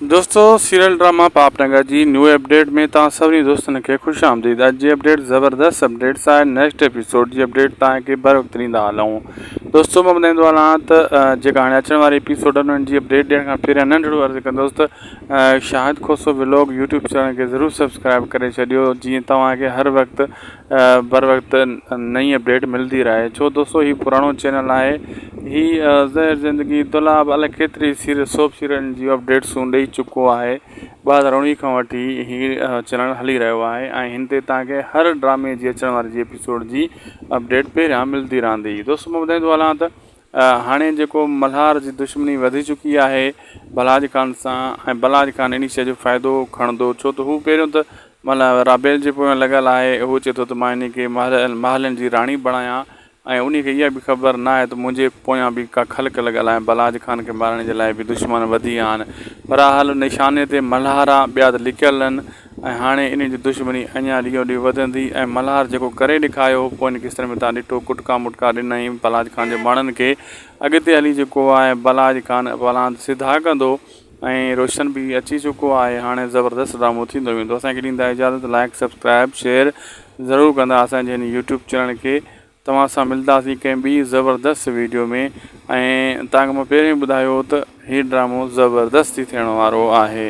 دوستو serial drama پاپ نگر جي نيو اپڊيٽ ۾ توهان سڀني دوستن کي خوش آمديد اڄ جي اپڊيٽ زبردست اپڊيٽس آهي نيڪسٽ ايپيسوڊ جي اپڊيٽ توهان کي بر وقت ڏيندا هلون دوستو مان ٻڌائيندو هلان ته جيڪا هاڻي اچڻ واري ايپيسوڊ آهن انهن جي اپڊيٽ ڏيڻ کان پهريان ننڍڙو عرض ڪندوس ته Shahid Khoso vlog YouTube channel کي ضرور سبسڪرائب ڪري ڇڏيو جيئن توهان کي هر وقت بر وقت نئين اپڊيٽ ملدي رهي ڇو دوستو هي پراڻو چينل آهي هي زهر زندگي دولاب الائي ڪيتري سيريل سوپ سيريلن جي اپڊيٽسون ڏئي چڪو آهي ٻه هزار اڻويهه کان وٺي هي چينل هلي رهيو آهي ۽ هن تي تهان کي هر ڊرامي جي اچڻ واري جي اپيسوڊ جي اپڊيٽ پهريان ملدي رهندي دوستو مان ٻڌائيندو هلان ته هاڻي جيڪو ملهار جي دشمني وڌي چڪي آهي بلاج خان سان ۽ بلاج خان انهي شيء جو فائدو کڻندو ڇو ته هو پهريون ته ملا رابيل جي پويان لڳل آهي، هو چئي ٿو ته مان هن کي محلن جي راڻي بڻايان ۽ انهي کي اها به خبر نه آهي ته منهنجي پويان به ڪا خلق لڳل آهي، بلاج خان کي مارڻ جي لاء به دشمن وڌي آهن، بھرحال نشاني تي ملھارا ٻيا ته لڪيل آهن ۽ هاڻي انهن جي دشمني اڃان ڏينهون ڏينهن وڌندي ۽ ملھار جيڪو ڪري ڏيکاريو هو پوين قسطن ۾ تان ڏٺو ڪٽڪا مٽڪا ڏنائين بلاج خان جي ماڻهن کي اڳتي هلي جيڪو آهي بلاج خان پلاند سڌا ڪندو ۽ روشن به اچي چڪو آهي هاڻي زبردست ڊرامو ٿيندو ويندو اسان کي ڏيندا اجازت لائيڪ سبسڪرائيب شيئر ضرور ڪندا اسان جي هن يوٽيوب چينل کي توهان سان ملداسين ڪنهن ٻي زبردست ويڊيو ۾ ۽ تانکي مون پهريون ئي ٻڌايو هو ته هي ڊرامو زبردست ٿي ٿيڻ وارو آهي.